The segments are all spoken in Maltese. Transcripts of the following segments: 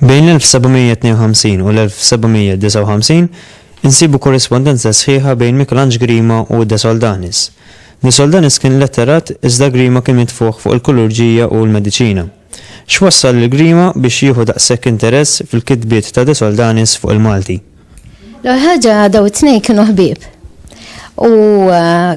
Bejn l-1752 u l-1759 insibu korrispondenza sħiħa bejn Mikelanġ Grima u De Soldanis. De Soldanis kien letterat iżda Grima kien mitfuħ fuq il-kulurġija u l-mediċina. X'wassal lil Grima biex jieħu daqshekk interess fil-kitbiet ta' De Soldanis fuq il-Malti? L-ewwel ħaġa dawn it-tnejn kienu ħbieb u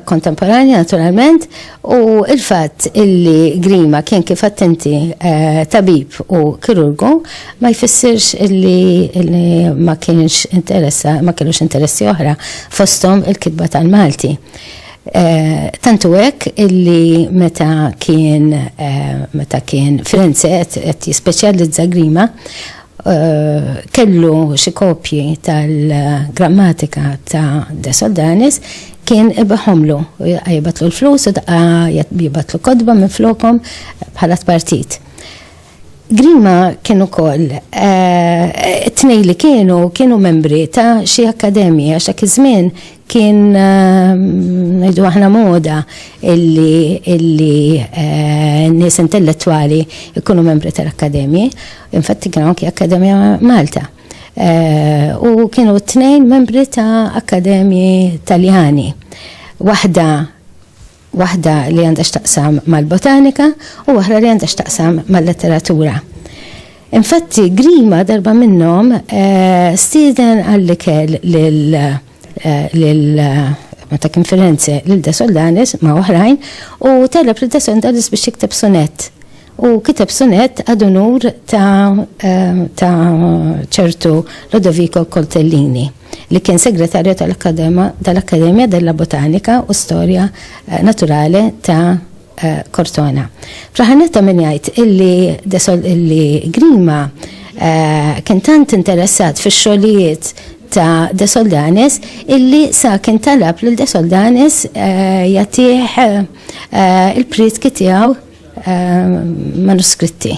kontemporanja eh, naturalment u il-fatt illi Grima kien kif attenti eh, tabib u kirurgu ma jfissirx illi ma kienx interessa ma kienux interessi oħra fosthom il-kitba tal-Malti. Tantu hekk illi meta kien meta kien Firenze qed jispeċjalizza Grima kellu xi kopji tal-grammatika ta' De Soldanis kien ibihomlu, jibgħatlu l-flus u daqqa jibgħatlu kotba minflokhom bħala tpartit. Grima kien ukoll tnej li kienu kienu membri ta' xi akkademji għax dak iż-żmien kien ngħidu aħna moda illi illi nies intellettwali jkunu membri tal-akkademji. Infatti kien anki Akkademja Malta. U kienu t-tnejn membri ta' akkademji Taljani. Waħda waħda li għandha x'taqsam mal-botanika u waħra li għandha x'taqsam mal-letteratura. Infatti, Grima darba minnhom eh, stieden għall-ikel lil eh, ma ta' kien Firenze lil De Soldanis ma' oħrajn u talab lil De Soldanis biex jikteb sonett u kiteb sunet għadunur ta' ċertu Lodoviko Coltellini. li kien Segretarju tal-Accademia della Botanica u Storia Naturale ta' Cortona. Fl-aħħar nett ta' min jgħid illi illi Grima kien tant interessat fix-xogħlijiet ta' De Soldanis illi sa kien talab lil De Soldanis jagħtih il-prietki tiegħu manuskritti.